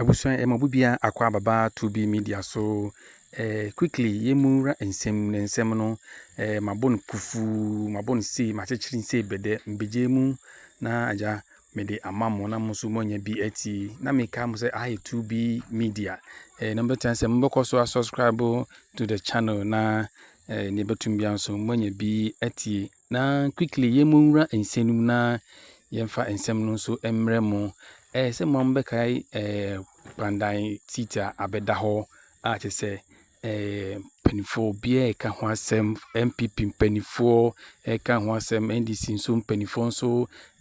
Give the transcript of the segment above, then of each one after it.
Abusua yɛ mɔbu bia akɔ ababa to be media so eh, quickly yɛ mu ra nsɛm ne nsɛm no eh, mabɔ no kufu mabɔ no sei makyekyere sei bɛdɛ mbɛgye mu na agya mede ama mo na mo nso moanya bi ati na meka mo sɛ ayɛ to be media eh, na mobɛtena sɛ mobɛkɔ so asubscribe to the channel na eh, ne bɛtum bia nso moanya bi atie Na quickly yɛn mo nwura nsɛm no mu na yɛn mfa nsɛm no nso mmerɛ mo. Ɛyɛ sɛ mo bɛ kae ɛɛ pandan seat a abɛda hɔ a kyɛ sɛ ɛɛ mpanyinfoɔ obiara ɛka ho asɛm NPP mpanyinfoɔ ɛka ho asɛm NDC nso mpanyinfoɔ nso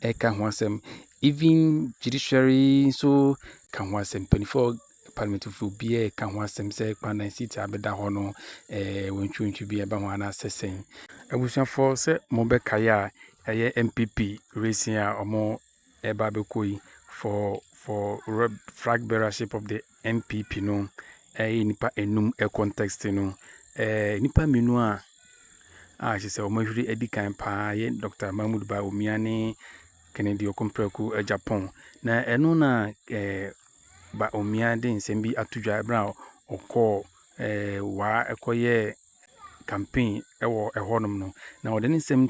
ɛka ho asɛm even judiciary nso ka ho asɛm mpanyinfoɔ Parliament fo bi ɛka ho asɛm sɛ kwan na seat a bɛda hɔ no ɛɛ wentwiwentwi bi ɛba ho anaasɛ sɛn. Abusuafoɔ sɛ mo bɛ kae a ɛyɛ NPP racing a ɔmo ɛba abɛkɔ yi for for rep flag bearership of the NPP no ɛyɛ nnipa enum ɛcontexte no ɛɛ nnipa mmienu a a kyɛ sɛ ɔmo ahuri adi kan paa yɛ Doctor Mahmood Bawumia ne Kennedy Okompreko Agyapong na ɛno na ɛɛ. Bawumia de nsɛm bi ato dwa bere a ɔkɔɔ Waa kɔyɛɛ campaign wɔ hɔnom no, na ɔde ne nsɛm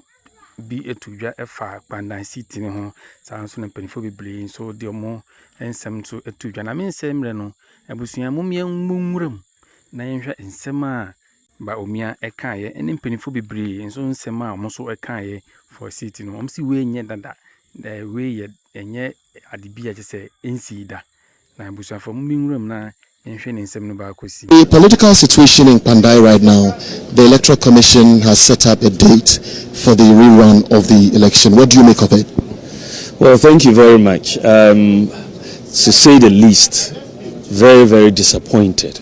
bi to dwa fa Kpandan seat no ho. Saa ara nso na mpanimfoɔ bebree nso de wɔn nsɛm nso to dwa. Na me nsɛm nnɛ no, abusua mom yɛmmɔ nwuram na yɛnhwɛ nsɛm a Bawumia kaeɛ ne mpanimfoɔ bebree nso nsɛm a wɔn nso kaeɛ for seat no. Wɔse wei nyɛ dada, wei yɛ ɛnyɛ . ade bi a ɛkyerɛ sɛ ɛnsii da. Na abusuafo, momma ɛnwura mu na yɛnhwɛ ne nsɛm no baako si. The political situation in Kpandai right now, the electoral commission has set up a date for the re-run of the election, what do you make of it? Well, thank you very much, um, to say the least, very, very disappointed.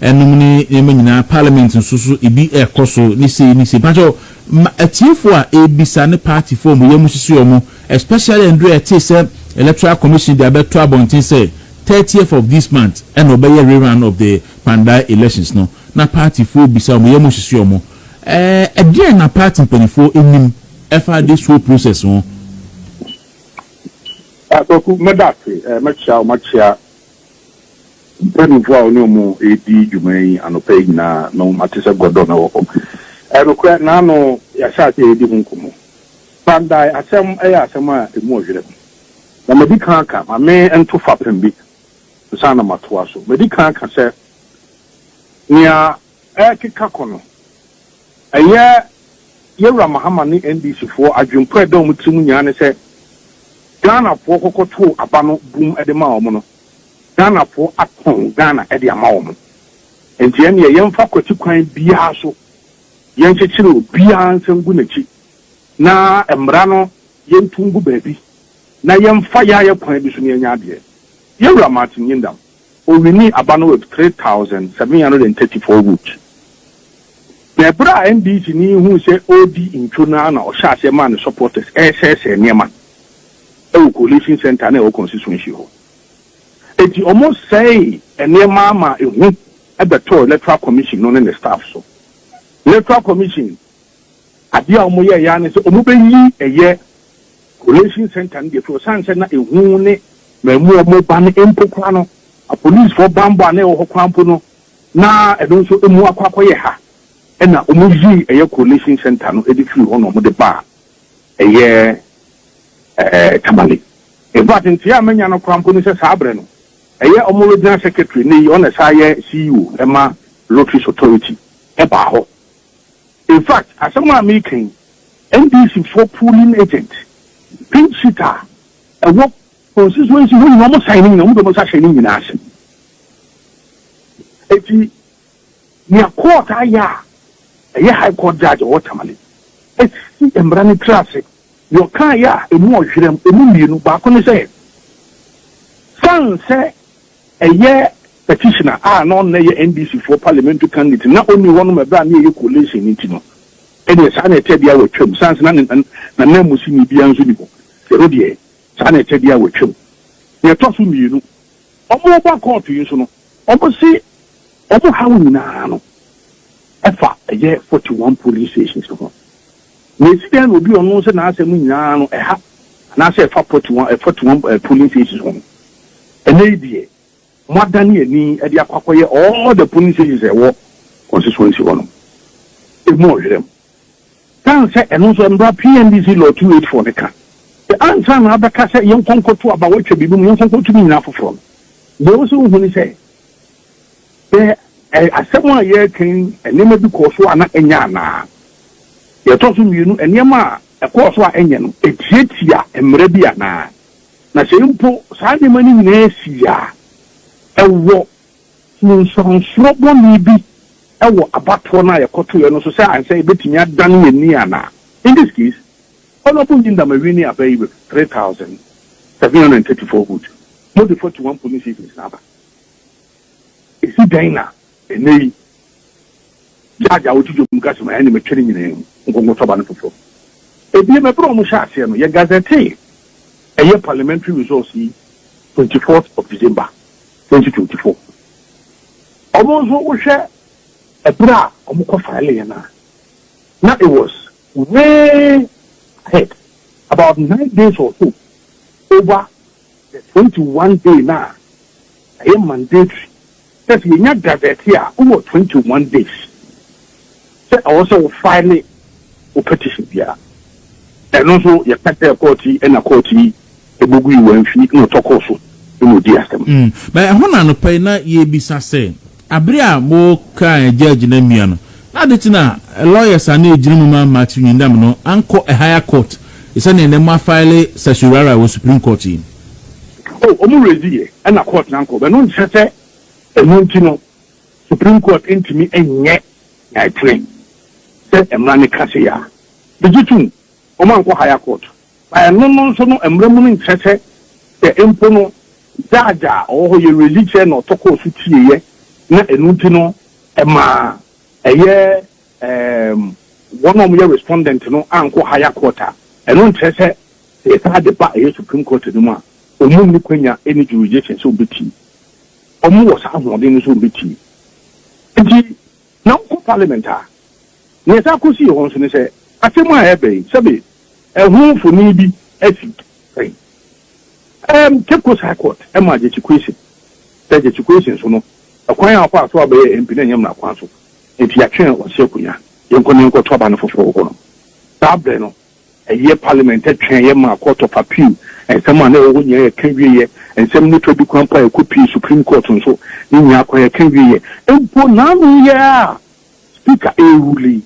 Ɛnom ne nneɛma nyinaa, parliament nso so ebi ɛkɔ so ne sei ne sei. Pakyɛw ma atiefo a ɛrebisa ne party fo a wɔn yam hyehye wɔn especially ɛnderɛ a yɛtee sɛ electoral commission de abɛto abɔnten sɛ thirtieth of this month ɛna ɔbɛyɛ rerun of the Kpandai elections no na party fo rebisa wɔn yam hyehye wɔn ɛɛ ɛdeɛn na party mpaninfoɔ nim ɛfa this whole process ho? Kwaku, mɛda ase. Mɛkyea wo, makyea Mpanyimfo a ɔne wɔn redi dwuma yi anɔpa yi nyinaa no ate sɛ gɔdɔ na ɛwɔ hɔ. Ɛyɛ nokorɛ, naano yɛahyɛ aseɛ redi ho nkɔmmɔ. Kpandae asɛm yɛ asɛm a ɛmu ɔyerɛ. Na madi kan aka, ma me nto fapem bi ansa na matoa so. Madi kan aka sɛ, nea ɛrekeka kɔ no, ɛyɛ Yawura Mahama ne NDC foɔ adwene po a ɛda wɔn tiri mu nyinaa ne sɛ Ghana foɔ kɔkɔ too aba no bum de maa wɔn no, Ghana foɔ atɔn Ghana de ama wɔn. Nti ɛnneɛ yɛmfa kwati kwan biara so yɛnkyekyere obiara nsa ngu n'akyi na mmara no yɛntu ngu baabi na yɛmfa yɛayɛ kwan bi so na yɛanya adeɛ. Yawura Martin Nyindam. Owinii aba no with three thousand seven hundred and thirty four votes. Na ɛberɛ a NDC ni yi huu sɛ ɔredi ntwo no ara na ɔhyɛɛ aseɛ maa ne supporters resɛesɛe nneɛma wɔ Coalition Centre no a ɛwɔ constituency hɔ. Enti wɔsɛee nneɛma ma ehu bɛtɔɔ Electoral Commission no ne ne staff so. Electoral Commission adeɛ a wɔyɛeɛ ara ne sɛ wɔbɛyi ɛyɛ Collation Centre no deɛ firi ɔsiane sɛ na ehu ne mmamu a wɔn ba no mpo koraa no apolisifoɔ banbɔ a na ɛwɔ hɔ koraa mpo no na ɛno nso emu akɔ akɔyɛ ha ɛna wɔn yii ɛyɛ Collation Centre no de firi hɔ na wɔn de baa ɛyɛ ɛɛ Tamale in fact nteɛ a manya no koraa mpo ne sɛ saa abrɛ no ɛyɛ wɔn Regional Secretary ne yi ɔna ɛsan yɛ CEO ɛma Lotteries Authority ɛbaa hɔ. In fact, asɛm a mereka yi, NDC foɔ polling agent, pink sheet a ɛwɔ constituency hɔ nyinaa, wɔn sign ne nyinaa, wɔn de wɔn nsa hyɛ ne nyinaa ase. Eti, nea court ayɛ a ɛyɛ high court judge ɔwɔ Tamale asi mmara no tiri ase, nea ɔkaeɛ a emu ɔhwerɛm, emu mmienu, baako ne sɛ, san sɛ, Ɛyɛ petitioner a na ɔno na ɛyɛ NDC foɔ parliamentary candidate na ɔnni hɔ no ma ɛberɛ a na yɛyɛ coalition no nti no ɛdeɛ saa na ɛtɛ deɛ watwam sane sɛ na ne nananmusini biara nso nni hɔ ɛno deɛ saa na ɛtɛ deɛ watwam. Deɛ ɛtɔ so mmienu wɔn reba court yi nso no wɔn se wɔn haw nyinaa no ɛfa ɛyɛ forty one polling stations no ho. Na esi dɛn na obi a ɔno sɛ n'asɛm nyinaa no ɛha anaasɛ ɛfa pɔtu wɔn ɛfatu wɔn ɛɛ polling stations ho no? Ɛnɛ yi deɛ mo adane ani ɛde akɔ akɔyɛ all the polling stations a ɛwɔ constituency hɔ nom emu ɔhwerɛm. San sɛ ɛno nso mmra PNDC law two eight four no ka sɛ ansa na abɛka sɛ yɛnkɔ nkɔto aba wɔatwa biribi mu yɛnkɔ nkɔto ne nyinaa foforɔ no deɛ ɛwɔ sɛ wohu ne sɛ Sɛ ɛyɛ asɛm a yɛreka yi, nneɛma bi kɔɔ so a na ɛnyɛ anaa? Deɛ ɛtɔ so mmienu, nneɛma a ɛkɔɔ so a ɛnyɛ no, ɛtiatia mmara bi anaa? Na sɛ mpo saa nneɛma no nyinaa sii a, ɛwɔ nsunsuansoɔ bɔne bi wɔ abatoɔ no a yɛkɔtoeɛ no so sɛ ankyɛ yɛbɛtumi adan yɛn ani anaa? In this case, Honourable Ngyindama winning aba yi with three thousand seven hundred and thirty four votes, more de forty one polling stations na aba. Esi dɛn na nnɛyi judge a woto dwom ka sɛ, Ma yɛne me twere nyinaa mu nkonko tɔba no foforo? Ebiem, bere a wɔhyɛɛ aseɛ no, yɛgazetee ɛyɛ parliamentary results yi twenty fourth of December, twenty twenty four. Wɔn nso wohwɛ ɛbere a wɔkɔ fileeɛ no a, na it was way ahead, about nine days or so over. The twenty one day no a ɛyɛ mandatory sɛ sɛ yɛnya gazette a wowɔ twenty one days sɛ ɛwɔ sɛ wo file wo petition biara. Ɛno nso yɛka kyerɛɛ court yi ɛna court yi bogui wɔ mfi na ɔtɔ kɔɔ so na ɔdii asɛm. Mm. Bɛ ɛhɔ na anɔpa yi na yɛrebisa sɛ Bere a wɔkaa Judge no amia no, na ade kye na lawyers a na egyina mu ma Matthew Nyindam no ankɔ higher court te sɛ nea nnɛ wɔafile certiorari wɔ Supreme Court yi. Oh, wɔn raise yɛ ɛna court no ankɔ, but no nkyerɛ sɛ ɛno nti no Supreme Court ntumi nyɛ nea ɛtene sɛ mmara no ka sei a. Megye tom, wɔankɔ higher court. Na ɛno no nso no mmra mu no nkyerɛ sɛ sɛ mpo no judge a ɔwɔ hɔ yɛ religious na ɔtɔ kɔɔ so tieeɛ na ɛno nti no ɛma ɛyɛ ɛɛm wɔn a wɔyɛ respondent no ankɔ higher court a, ɛno nkyerɛ sɛ sɛ yɛsan de ba ɛyɛ supreme court no mu a wɔn nni kwanya ɛnni jurisdiction sɛ wɔbɛtie. Wɔn wɔ saa ahoɔden no sɛ wɔbɛtie. Nti na wokɔ Parliament a, nea ɛtaa kɔ si hɔ nso ne sɛ atemmu a ɛreba yi, sɛbe ɛho mfoni bi asi sɛn. Ɛɛm, Cape Coast High Court maa Gyekye Quayson sɛ Gyekye Quayson nso no, kwan a ɔfaa so abɛyɛ MP no ɛnyɛ mmara kwan so, enti yɛatwe ɔse akonya, yɛnkɔ na yɛnkɔto aba no foforɔ wɔ hɔ nom. Saa berɛ no, Ɛyɛ Parliament twɛeɛ maa Court of Appeal nsɛm a na ɛwɔ hɔ nyinaa yɛ ka wieɛ. Nsɛm no twa di kwan mpo a ɛkɔpuee Supreme Court nso. Ne nyinaa kɔ yɛ ka wieɛ. Mpo naano yi ara a Speaker rerule yi,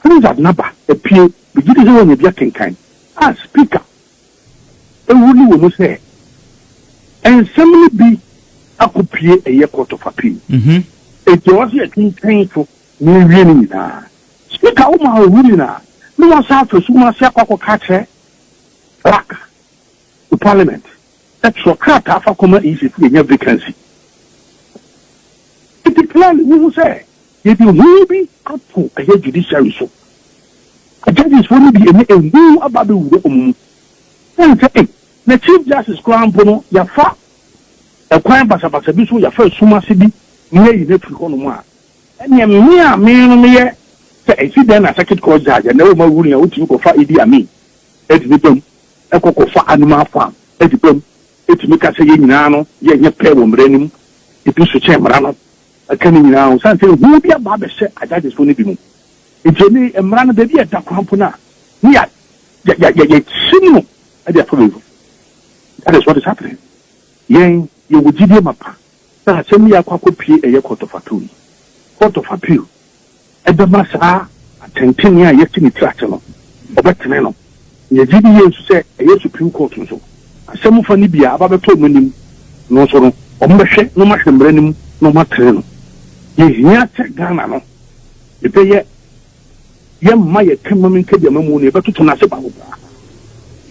Harizard naba apue. Megye di sɛ woanya bi akenkan a Speaker rule wɔ mu sɛ nsɛm no bi akɔpue ɛyɛ Court of Appeal. Enti ɛwɔ sɛ yɛtwentwɛn so na yɛwie ne nyinaa. Meka wo maa owu nyinaa, na wɔasan afa sum ase akɔ akɔka akyerɛ Black wɔ Parliament sɛ twerɛ krataa fa kɔma Egypt yɛnya vacancy. Nti clearly wohu sɛ yɛde hu bi ato ɛyɛ judiciary so. Judges foɔ no bi ɛnɛ ɛhu aba abɛwura wɔn mu. Ɛne sɛ ei na Chief Justice koraa mpo no yɛafa ɛkwan basabasa bi so, yɛafa sum ase bi na yɛayi no afiri hɔnom a, Ɛnneɛ me a me no meyɛ sɛ ɛsi dɛn na circuit court judge a na ɛwɔ ma ruling a wotumi kɔfa Idi Amin de ne bam kɔ kɔfa animal farm de bam tumi ka sɛ yɛn nyinaa no yɛnyɛ pɛ wɔ mmara no mu ebi so kyɛn mmara no ɛka ne nyinaa ho sane sɛ ehu bi aba abɛhyɛ a judges foɔ no bi mu nti ɛne mmara no baabi a ɛda koraa mpo no a ne yɛ yɛ yɛ yɛ kyim no de afa baabi that is what is happening yɛn yɛwɔ gyidie mapa. Saa asɛm yi a akɔ akɔpue ɛyɛ court of appeal yi, court of appeal bɛma saa atɛntrenee a yɛasi ne tiri ase no, wɔbɛtene no. Yɛgye di yie nso sɛ ɛyɛ Supreme Court nso, asɛm fa no bi a aba abɛtɔ wɔn anim no nso no, wɔbɛhwɛ na wɔahwɛ mmara no mu na wɔatene no. Yɛhia sɛ Ghana no, yɛbɛyɛ. Yɛmma yɛ kamam nka deɛ mamu no yɛbɛtoto no ase baako koraa.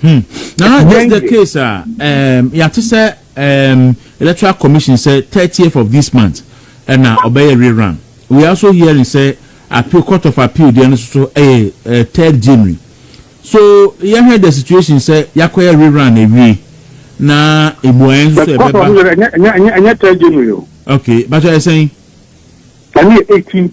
Hmm. Nana, just the case a um, yɛate sɛ um, electoral commission sɛ 30th of this month ɛna ɔbɛyɛ rerun. We are also hearing sɛ appeal court of appeal deɛ no soso ɛyɛ uh, third January. So yɛhwɛ the situation sɛ yɛakɔyɛ rerun awie na mmuaeɛ nso sɛ ɛbɛba. Ɛnyɛ third January o. Okay, but ɛsɛn. Ɛne 18.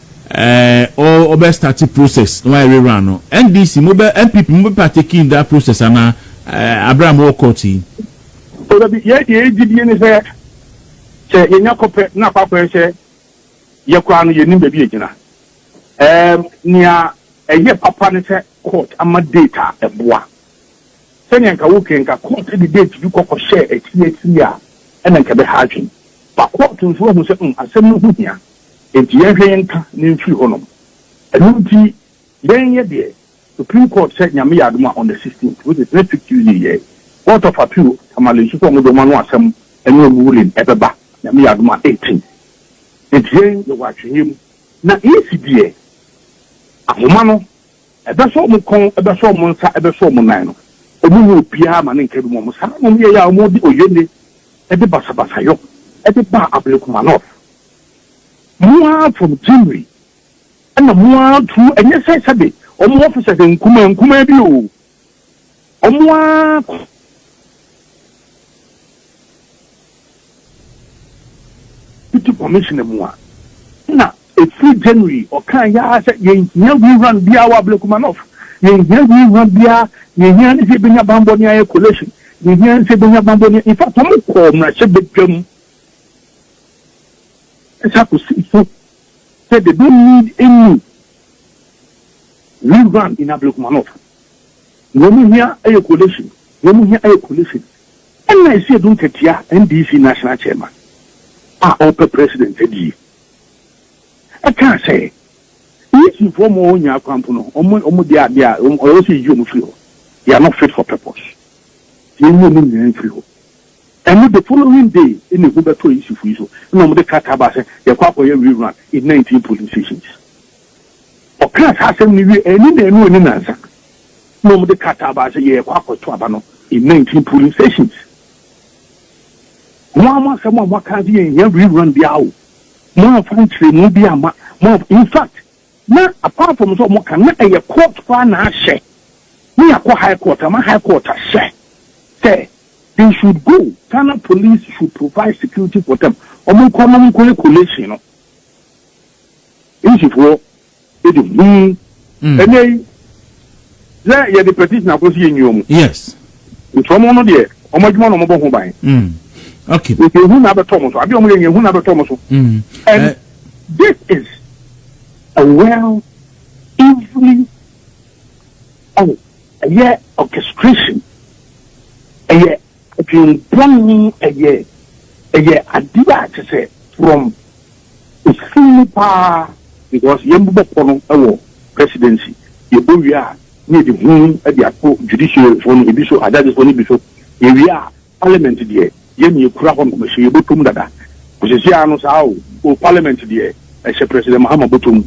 Ɛɛ ɔɔ ɔbɛ starte process na wayɛ re run no NDC mo bɛ NPP mo bɛ partake in that process anaa ɛɛ abrɛ a mo wɔ court yi. O da bi yɛ deɛ yɛ gye die ne sɛ sɛ yɛ nya kɔ pɛ na akɔ akɔ yɛ sɛ yɛ koraa no yɛ nim baabi yɛ gyina ɛɛm nea ɛyɛ papa ne sɛ court ama date a ɛboa sɛnea nka wo kɛ nka court de date bi kɔ kɔ hyɛ akyiri akyiri a ɛna nka ɛbɛ ha adwene ba court nso ahu sɛ mm asɛm no ho hia. Enti yɛnhwɛ yɛn nka na ɛmfiri hɔ nom. Ɛno nti yɛn yɛ deɛ Supreme Court sɛ Nyame yɛ adom a on the 16th which is next week Tuesday yɛ Court of Appeal Tamale nso sɛ wɔn deɛ wɔn ano asɛm ɛne wɔn ruling ɛbɛba Nyame yɛ adom a 18 Enti yɛn yɛwɔ atweneɛ mu. Na EC deɛ ahoma no ɛbɛsɔ wɔn kɔn ɛbɛsɔ wɔn nsa ɛbɛsɔ wɔn nan no wɔn nyɛ obiara ma ne nka bi mu wɔn saa na wɔn yɛɛ a wɔn de oyene ɛde basabasayɔ ɛde baa Ablekuma North. Mo ara from Gyimri ɛna mo ara true ɛnyɛ sɛ sɛbe wɔn officers nkumaa nkumaa bi oo wɔn ara deputy commissioner mu a na ɛfiri January ɔkaa yaa sɛ yɛnhia rerun biara wɔ Ablekuma North yɛnhia rerun biara yɛhia ne sɛ yɛbɛnya bammɔ ne ayɛ collation yɛhia ne sɛ yɛbɛnya bammɔ ne in fact wɔn kɔɔ mmarahyɛbadwam Ɛhyɛ akosimfo sɛ they don't need any rerun in Ablekuma North. Nea wɔn hia yɛ coalition, nea wɔn hia yɛ coalition. Ɛna ɛsi Adu Nkɛtea NDC National Chairman a ɔrepɛ President adi yi ɛkaa sɛ Nyesinfoɔ ma wɔn nyaa kwan mpo no, wɔn wɔn de adeɛ a wɔn ɔyɛ sɛ yɛyi wɔn firi hɔ. They are not fit for purpose. Yɛnyi wɔn nyinaa mfiri hɔ. Ɛno the following day na ehu bɛtɔɔ Yisufo yi so na wɔde krataa baa sɛ yɛkɔ akɔyɛ rerun in nineteen polling stations. Ɔkaa saa asɛm no wiei anni naanu anni nansa na wɔde krataa baa sɛ yɛrekɔ akɔto aba no in nineteen polling stations. Mo ara mo asɛm a moaka sɛ yɛnhia rerun biara o, moamfa nkyerɛmu biara amma, moamfa, in fact Na apart from sɛ wɔka na ɛyɛ court koraa na ahyɛ ne yɛakɔ high court ama high court ahyɛ sɛ they should go Ghana police should provide security for them wɔn nkɔ na wɔn nkɔ yɛ collation no English foɔ ɛde huu ɛnɛ yi. Sɛ yɛde petition akɔ so yɛ nnwuma mu. Yes. Nti wɔn no deɛ wɔn adwuma na wɔn bɔ ho ban. Mm. Okay. Nti ehu na abɛtɔ wɔn so. Ade wɔn yɛ nyɛ ehu na abɛtɔ wɔn so. Mm. And uh, this is a well evenly oh ɛyɛ orchestration ɛyɛ. Adwen bɔn yi ɛyɛ ɛyɛ adeɛ a kyesɛ from ɛfiri mu paa because yɛn bobɔ pɔ no ɛwɔ presidency yɛ bɔ wie a ne yɛde hu ɛde ato judiciary foɔ no ebi so ajudges foɔ no ebi so yɛ wie a parliament deɛ yɛn yɛ kura hɔ no mɛhyɛ yɛ bɔtɔ mu dada ɔsisi ano saa o o parliament deɛ ɛhyɛ president mahama bɔtɔ mu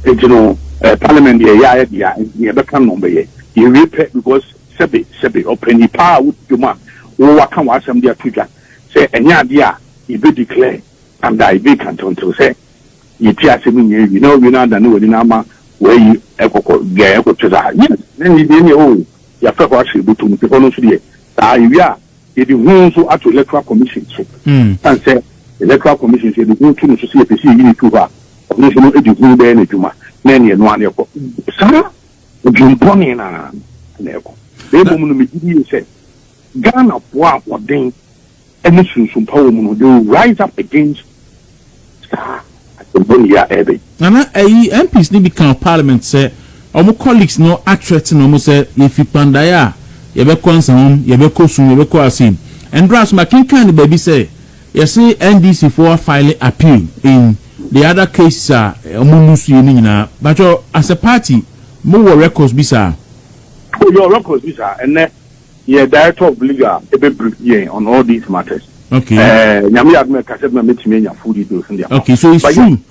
ɛti no parliament deɛ yɛ ayɛ deɛ nti yɛ bɛka no bɛyɛ yɛ wie pɛ because Sɛbe, sɛbe, ɔpɛ nnipa a wodi dwom a wo waka w'asɛm de ato dwa sɛ ɛnyɛ adeɛ a yɛbɛ declare under a yɛbɛ kantantew sɛ yɛtie asɛm nyinaa awie na wawie no adane w'ani na ama w'ayi ɛkɔkɔ biaɛ ɛkɔ kyɛ saa yes na ɛnni deɛ neɛ oo yɛafrɛ hɔ ahyɛ bɛtom nti hɔ no nso deɛ saa yɛwie a yɛde ho nso ato electoral commission so san sɛ electoral commission sɛ yɛde ho to no so sɛ yɛpɛ sɛ yɛyi ne tu hɔ a ɔno nso no ɛde ho bɛyɛ no adwuma na ɛneɛ no a ne ɛkɔ saa Dwempɔne no ara na ɛkɔ. Na mmom no, megye di sɛ Ghanafoɔ a wɔden ne sunsumpa wɔ mu no, they will rise up against saa adwempɔne yi a ɛreba yi. Nana, ɛyi MPs no bi ka wɔ parliament sɛ wɔn colleagues no athreaten wɔn sɛ yɛfi Kpandae a yɛbɛkɔ Nsawam, yɛbɛkɔ Sum, yɛbɛkɔ Assin. Ɛndora nso makenkan no baabi sɛ Yɛse NDC foɔ a file appeal in the other cases a ɔmo lose yɛ no nyinaa. Mpakyɛ as a party mo wɔ records bi saa? Oh yɛwɔ records bi saa. Ɛnɛ yɛ director of legal ɛbɛ brief yɛn on all these matters. Okay. Ɛɛ Nyame yɛ adom a ɛka sɛ ɛbɛma mɛtumi anya full details no de ama wo. Okay so it's true.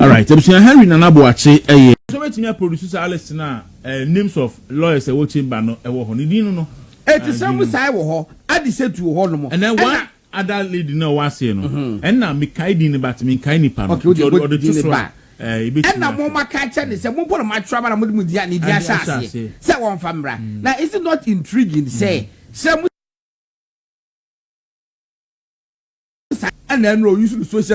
Alright abusua Henry Nana Boakye ɛyɛ. Sɛ ɔbɛtumi a produce saa list no a eh, names of lawyers a ɛwɔ chamber no ɛwɔ hɔ no din no no. Eti sɛ mo sae wɔ hɔ, adi sɛ tu wɔ hɔ nom. Ɛnɛ one other lady no a ɔwɔ aseɛ no, ɛna me kae din no but me nkae nipa no, nti ɔde to so a eh, yɛbɛtumi ahwɛ. Ɛna mo ma ka kyɛ ne sɛ mo bɔ no mo atwerɛ aba na mo de mo din a ne din ahyɛ aseɛ sɛ wɔn fa mmra. Na is it not intriguing sɛ sɛ mo sae ɛna ɛnora ɔuse no social.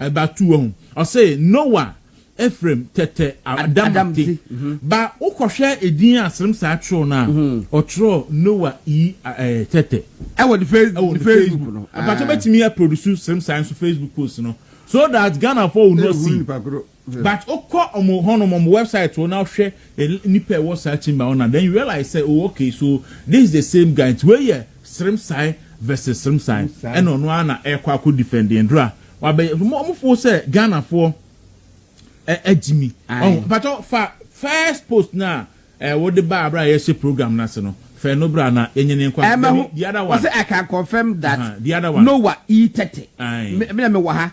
Ɛba tu wahu. Ɔse Noah Ephraim tɛtɛ Adamate. Ba wo kɔ hwɛ edin a Sremsaa twerɛw no a, ɔtwerɛɛ Noah E eh tɛtɛ. Ɛwɔ ne face ɛwɔ ne Facebook no. Mpakyɛ bɛtumi a produce Sremsaa nso Facebook post no so that Ghanafoɔ will not see. But wo kɔ ɔmo hɔ nom ɔmo website hɔ na wo hwɛ nnipa a ɛwɔ saa chamber hɔ na then you realize sɛ oh okay so this is the same guy nti wei yɛ Sremsae versus Sremsae ɛna ɔno ara na ɛɛkɔ akɔ defend Ndra wabɛ ɔmo foo sɛ Ghana foɔ agyimi ɔho mpakyɛw fa first post no a ɛɛ wo de baa bere a yɛɛhyɛ program no ase no fɛ no bra na yɛnyɛ ne nkɔ ase the other one ɔsɛ I can confirm that the other one Noah E30 me na me wɔ ha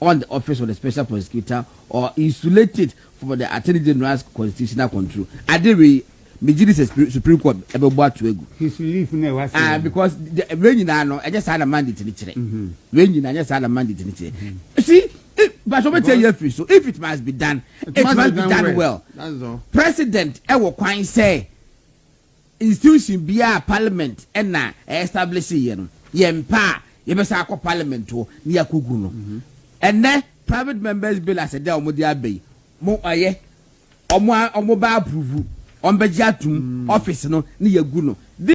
on the office of the special prosecutor or insulate it from the Attorney General's constitutional control. Ade wei, megye di sɛ Supreme Court ɛbɛbɔ ato agu. His relief na ɛwɔ ase. Ah, because wei nyinaa no, ɛnyɛ saa na mandate no kyerɛ. Mm-hmm. Wei nyinaa, ɛnyɛ saa na mandate no kyerɛ. Mm-hmm. See, but wọ́n tẹ yẹ firi so if it must be done it, it must, must be done well. well. President ɛwɔ kwan sɛ Institution biara a parliament na ɛ establish yɛ no, yɛn pɛ a, yɛbɛsan akɔ parliament hɔ na yɛakɔgu no. Ɛnnɛ private members bill as ɛdɛ a wɔde aba yi, mo ɔyɛ, wɔn a wɔbɛ approve, wɔbɛgye atom, office no na yɛagu no. This.